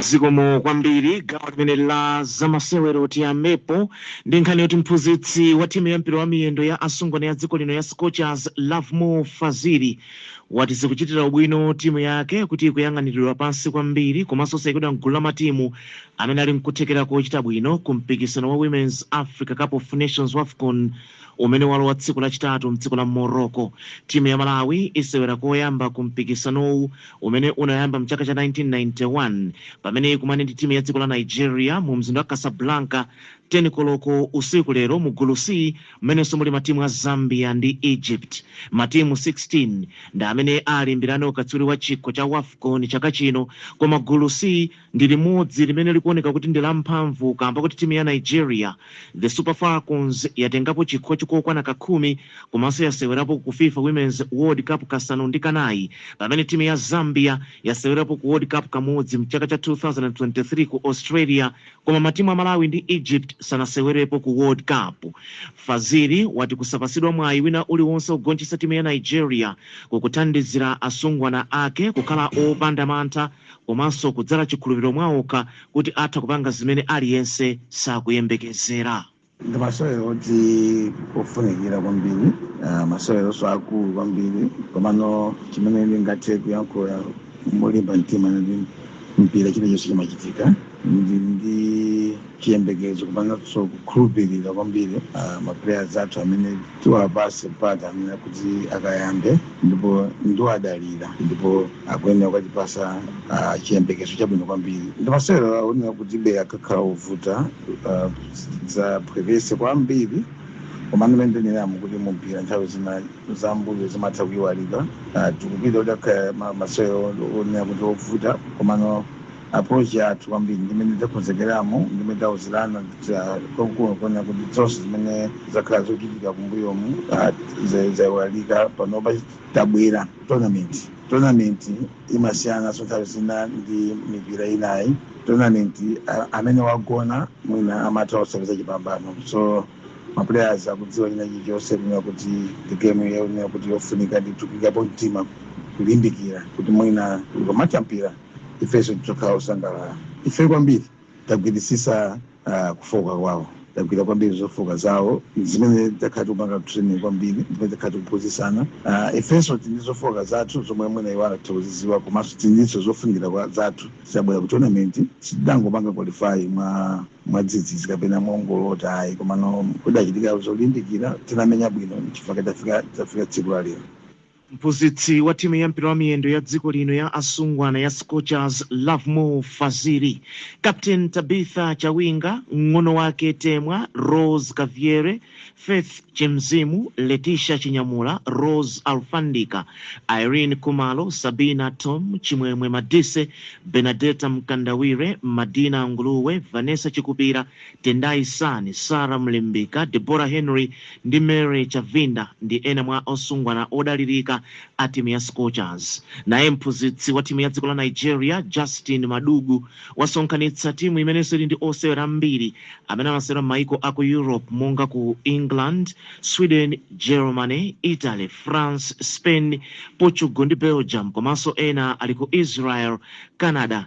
Zikomo kwambiri. Gawo limeneli la zamasewero tiyambepo ndi nkhani yoti mphunzitsi wa timu ya mpira wa miyendo ya asungwana ya dziko lino ya Scorchers, Lovemore Fazili, wati zikuchitira ubwino timu yake kuti ikuyang'aniridwa pansi kwambiri komanso saikidwa m'gulu la matimu amene ali n'kuthekera kochita bwino ku mpikisano wa Women's Africa Cup of Nations, Wafcon, umene walowa tsiku lachitatu mdziko la Morocco. Timu ya Malawi isewera koyamba ku mpikisanowu umene unayamba mchaka cha 1991 pamene ikumane ndi timu ya dziko la Nigeria mu mzinda wa Casablanca 10 koloko usiku lero mu gulu C mmenenso muli matimu a Zambia ndi Egypt. Matimu 16 ndi amene alimbirane ukatswiri wa chikho cha Wafcon chaka chino koma gulu C ndi limodzi limene likuoneka kuti ndi la mphamvu kaamba koti timu ya Nigeria, The Super Falcons, yatengapo chikhochi kokwana ka khumi komanso yasewerapo ku fifa Women's World Cup kasanu ndi kanayi pamene timu ya Zambia yasewerapo ku World Cup kamodzi mchaka cha 2023 ku Australia koma matimu a Malawi ndi Egypt sanasewerepo ku World Cup. Fazili wati kusapatsidwa mwayi wina uliwonse wogonjetsa timu ya Nigeria kukuthandizira asungwana ake kukhala opanda mantha komanso kudzala chikhulupiriro mwaokha kuti atha kupanga zimene aliyense sakuyembekezera. Ndi masewero oti ofunikira kwambiri, ah, maseweronso akulu kwambiri, komano chimene ndingathe kuyankhula molimba mtima n'chakuti mpira chilichonse chimachitika. ndi ndi chiyembekezo komanso kukhulupirira kwambiri ah, ma players athu amene tiwapatse mpata amene kuti akayambe ndipo ndiwadalira ndipo akuyenera kukatipatsa ah, chiyembekezo chabwino kwambiri ndi masewero oonena kuti be akakhala ovuta ah, sakaphweketsa kwambiri komano mmene ndaneneramo kuti mumpira nthawi zina zambuyo zimatha kuyiwalika Ah, tikupita kuti akhala ma- masewero onena kuti ovuta komano approach yathu kwambiri ndi mmene takonzekeramo ndi mmene tauzirana kunena kuti zonse zimene zakhala zochitika kumbuyomu zaiwalika panopa tabwera tournament tournament imasiyananso nthawi zina ndi mipira inayi tournament a- amene wagona mwina amatha osapeza chipambano so maplayers akudziwa china chilichonse kunena kuti ndi game yonena kuti yofunika ndithu kuikapo mtima kulimbikira kuti mwina ukamatha mpira ifenso tidzakhala osangalala ife kwambiri tagwiritsitsa ah, kufooka kwawo tagwira kwambiri zofooka zawo zimene takhala tikupanga training kwambiri zimene takhala tikuphunzitsana Ah, ifenso tili ndi zofooka zathu zomwe mwina iwo angathe kuzidziwa komanso tilinso zofunikira kwa- zathu tabwera ku tournament sitidangopanga qualify mwa mwadzidzidzi kapena mongolota ayi komano kudachitika zolimbikira tinamenya bwino chifukwa tafika tafika tsiku la lero Mphunzitsi wa timu ya mpira wa miyendo ya dziko lino ya asungwana ya Scorchers, Lovemore Fazili, Captain Tabitha Chawinga, mng'ono wake Temwa, Rose Kabzere, Faith Chimzimu, Letisha Chinyamula, Rose Alufandika, Ireen Khumalo, Sabina Thom, Chimwemwe Madise, Bernadetta Mkandawire, Madina Nguluwe, Vanessa Chikupira, Tendai Sani, Sarah Mlimbika, Deborah Henry ndi Mary Chavinda ndi ena mwa asungwana odalirika a timu ya Scorchers. Naye mphunzitsi wa timu ya dziko la Nigeria, Justin Madugu, wasonkhanitsa timu imenenso ili ndi osewera ambiri amene amasewera mmaiko aku Europe monga ku England, Sweden, Germany, Italy, France, Spain, Portugal ndi Belgium komanso ena ali ku Israel, Canada,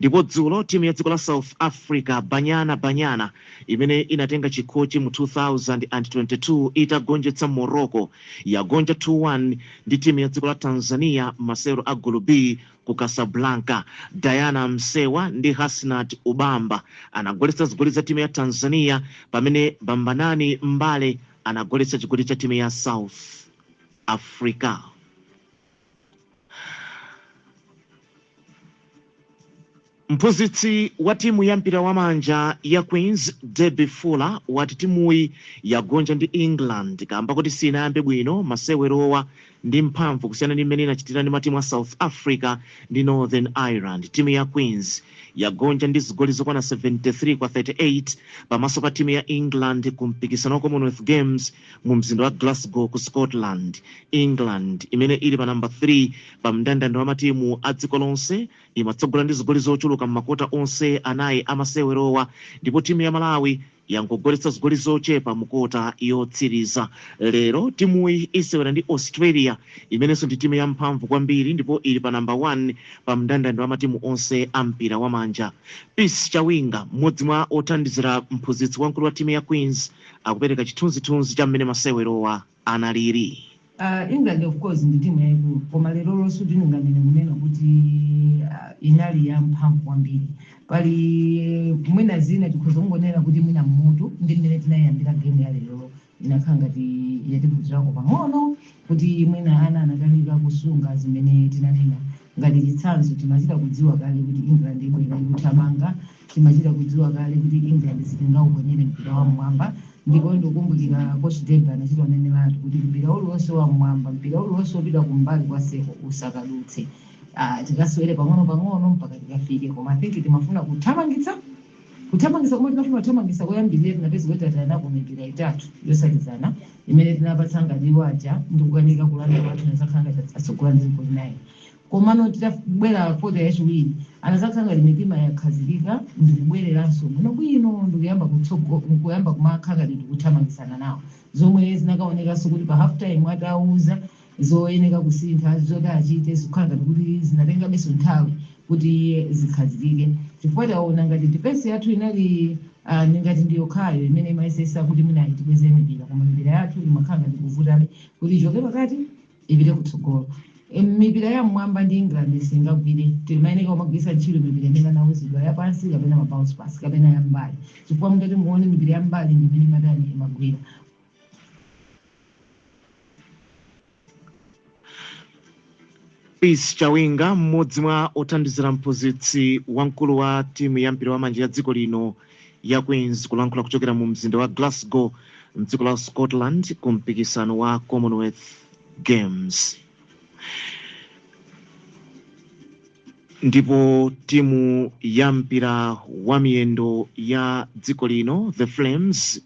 ndipo dzulo timu ya dziko la south africa banyana banyana imene inatenga chikhochi mu 2022 itagonjetsa morocco yagonja 2 1 ndi timu ya dziko la tanzania mmasewero a gulu b ku casablanca diana msewa ndi hasnat ubamba anagoletsa zigoli za timu ya tanzania pamene bambanani mbane anagoletsa chigoli cha timu ya south africa Mphunzitsi watimu ya mpira wa manja ya Queens, Debbie Fuller, wati timuyi yagonja ndi England kaamba koti sinayambe bwino masewerowa ndi mphamvu kusiyana ndi mmene inachitira ndi matimu a South Africa ndi Northern Ireland. Timu ya Queens yagonja ndi zigoli zokwana 73 kwa 38 pamaso pa timu ya England ku mpikisano wa Commonwealth Games mu mzinda wa Glasgow ku Scotland. England imene ili pa namba 3 pa mndandanda wa matimu a dziko lonse imatsogola ndi zigoli zochuluka m'makota onse anayi a masewerowa ndipo timu ya Malawi yangogoletsa zigoli zochepa mu kota yotsiriza. Lero timuyi isewera ndi Australia imenenso ndi timu yamphamvu kwambiri ndipo ili pa namba 1 pa mndandanda wa matimu onse a mpira wamanja. Peace Chawinga, mmodzi mwa othandizira mphunzitsi wamkulu wa timu ya Queens, akupereka chithunzithunzi cha mmene masewerowa analili. Uh, England of course ndi timu yayikulu koma lerolo sindinganene kunena kuti uh, inali ya mphamvu kwambiri pali mwina zina tikhoza kungonena kuti mwina mmutu ndi mmene tinayiyambira game ya lerolo inakhala ngati yativutirako pang'ono kuti mwina ana anakanika kusunga zimene tinanena Ngati chitsanzo, timachita kudziwa kale kuti England ibwera ikuthamanga, timachita kudziwa kale kuti England sitingauponyere mpira wam'mwamba ndipo ndikukumbukira Coach Debbie anachita kuneneratu kuti mpira uliwonse wam'mwamba, mpira uliwonse wopita kumbali kwa seko usakadutse. Ah, tikasewere pang'onopang'ono mpaka tikafike koma I think timafuna kuthamangitsa. Kuthamangitsa komwe tinafuna kuthamangitsa koyambilira tinapeza kuti tatayanako mipira itatu yotsatizana imene tinapatsa ngati iwo aja ndi kukanika kulanda kwathu anazakhala ngati atsogola ndi zigoli 9 komano titabwera kota yachiwiri anazakhala ngati mitima yakhazikika ndikubwereranso bwino bwino ndikuyamba kumakhala ngati tikuthamangitsana nawo zomwe zinakaonekanso kuti pa half time atauzidwa zoyeneka kusintha, zoti achite, zikukhala ngati kuti zinatengabe nthawi kuti zikhazikike, chifukwa taona ngati defense yathu inali uh, ngati ndi yokhayo imene imayesetsa kuti mwina itibweze mipira koma mipira yathu imakhala ngati kuvutabe kuti ichoke pakati ipite kutsogolo E, mipira ya mmwamba ndi England singagwire timayeneka kumagwiritsa ntchito mipira imene anauzidwa yapansi kapena ma bounce pass kapena yambali chifukwa mutati muone mipira yambali ndi imene amatha imagwira Peace Chawinga, mmodzi mwa othandizira mphunzitsi wamkulu wa timu ya mpira wa manja ya dziko lino ya Queens kulankhula kuchokera mu mzinda wa Glasgow mdziko la Scotland ku mpikisano wa Commonwealth Games. Ndipo timu ya mpira wa miyendo ya dziko lino, The Flames,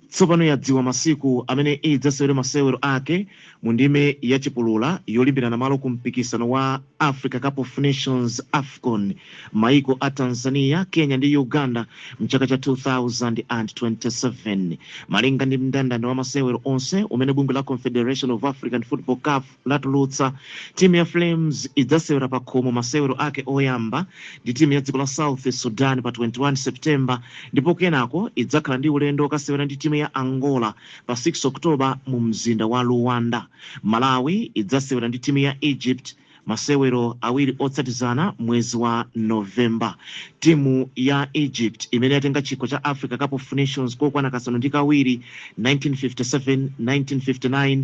tsopano yadziwa masiku amene idzasewere masewero ake mu ndime ya chipulula yolimbirana malo ku mpikisano wa Africa Cup of Nations, AFCON, mmaiko a Tanzania, Kenya ndi Uganda mchaka cha 2027. Malinga ndi mndandanda wa masewero onse umene bungwe la Confederation of African Football, CAF, latulutsa, timu ya Flames idzasewera pakhomo masewero ake oyamba ndi timu ya dziko la South Sudan pa 21 September ndipo kenako idzakhala ndi ulendo wokasewera ndi timu ya Angola pa 6 October mu mzinda wa Luanda. Malawi idzasewera ndi timu ya Egypt masewero awiri otsatizana mwezi wa November. Timu ya Egypt imene yatenga chikho cha Africa Cup of Nations kokwana kasanu ndi kawiri, 1957, 1959,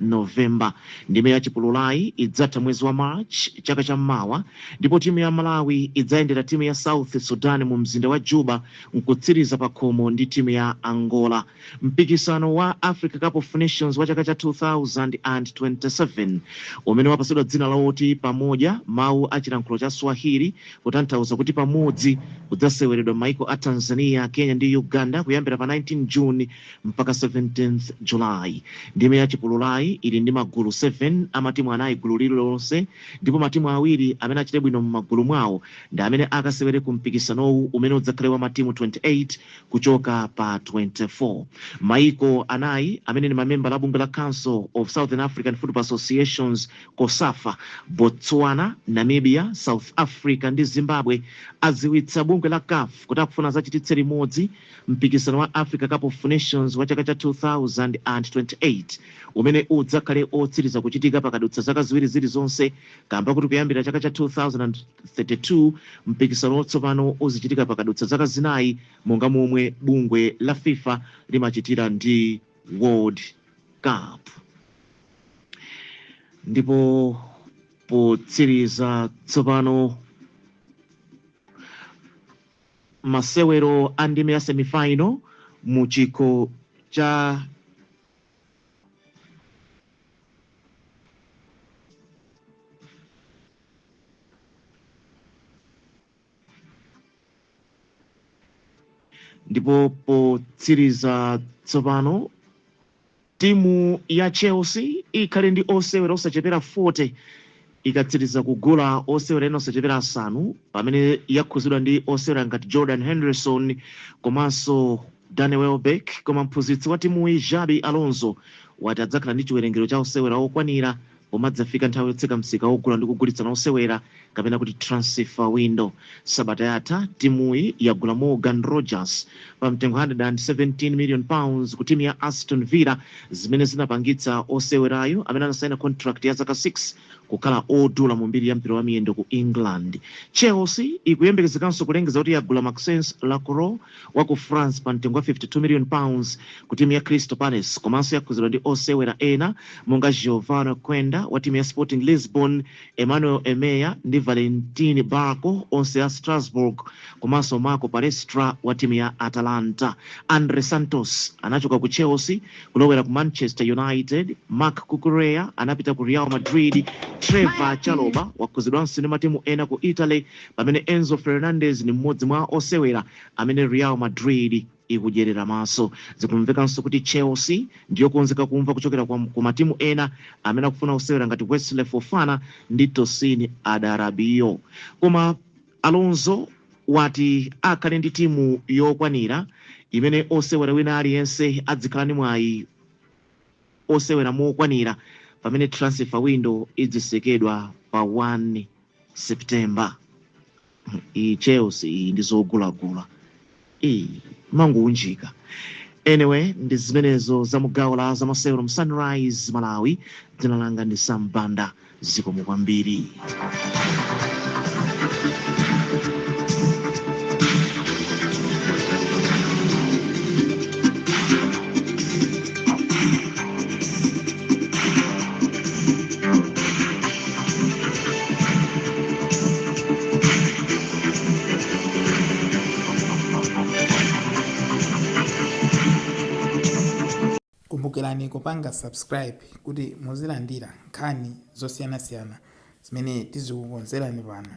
November. Ndime ya chipululayi idzatha mwezi wa March chaka cha mmawa ndipo timu ya Malawi idzayendera timu ya South Sudan mu mzinda wa Juba nkutsiriza pakhomo ndi timu ya Angola. Mpikisano wa Africa Cup of Nations wa chaka cha 2027 umene wapatsidwa dzina loti Pamoja, mawu a chilankhulo cha Swahili kutanthauza kuti pamodzi, udzaseweredwa mmaiko a Tanzania, Kenya ndi Uganda kuyambira pa 19 June mpaka 17th July. Ndime ya chipululayi ili ndi magulu 7 a matimu anayi gulu lililonse ndipo matimu awiri amene achite bwino m'magulu mwawo ndi amene akasewere ku mpikisanowu umene udzakhale wa matimu 28 kuchoka pa 24. Maiko anayi amene ndi mamembala a bungwe la Council of Southern African Football Associations, Cosafa, Botswana, Namibia, South Africa ndi Zimbabwe adziwitsa bungwe la caf kuti akufuna adzachititse limodzi Mpikisano wa Africa Cup of Nations wa chaka cha 2028 umene udzakhale otsiriza kuchitika pakadutsa zaka ziwiri zilizonse kamba koti kuyambira chaka cha 2032 mpikisano wotsopano uzichitika pakadutsa zaka zinayi monga momwe bungwe la FIFA limachitira ndi World Cup. Ndipo potsiriza tsopano Masewero a ndime ya semifaino mu chikho cha. ndipo potsiriza tsopano Timu ya Chelsea ikhale ndi osewera osachepera 40 ikatsiriza kugula osewera ena osachepera asanu pamene yakhuzidwa ndi osewera ngati Jordan Henderson komanso Danny Welbeck, koma mphunzitsi watimuyi Xabi Alonso wati adzakhala ndi chiwerengero cha osewera okwanira Pomadzafika nthawi yotseka msika wogula ndi kugulitsana osewera kapena kuti transfer window sabata yatha timuyi yagula Morgan Rogers pa mtengo 117 million pounds ku timu ya Aston Villa zimene zinapangitsa osewerayu amene anasaina contract ya zaka 6 kukhala odula mu mbiri ya mpira wa miyendo ku England. Chelsea ikuyembekezekanso kulengeza kuti yagula Maxence Lacroix wa ku France pa mtengo wa 52 million pounds ku timu ya Crystal Palace komanso yakhuzidwa ndi osewera ena monga Geovany Quenda wa timu ya Sporting Lisbon, Emmanuel Emegha ndi Valentin Barco onse a Strasbourg komanso Marco Palestra wa timu ya Atalanta. Andrey Santos anachoka ku Chelsea kulowera ku Manchester United, Marc Cucurella anapita ku Real Madrid, Trevoh Chalobah wakhuzidwanso ndi matimu ena ku Italy Pamene Enzo Fernandez ndi mmodzi mwa osewera amene Real Madrid ikudyerera maso. Zikumvekanso kuti Chelsea ndiyokonzeka kumva kuchokera ku matimu ena amene akufuna osewera ngati Wesley Fofana ndi Tosin Adarabioyo. Koma Alonso wati akhale ndi timu yokwanira imene osewera wina aliyense adzikhala ndi mwayi osewera mokwanira pamene transfer window idzisekedwa pa 1 September iyi Chelsea iyi ndi zogulagula iyi mangounjika anyway ndi zimenezo za m'gawo la zamasewero mu Sunrise Malawi dzina langa ndi Sam Banda zikomo kwambiri kumbukirani kupanga subscribe kuti muzilandira nkhani zosiyanasiyana zimene tizikukonzerani pano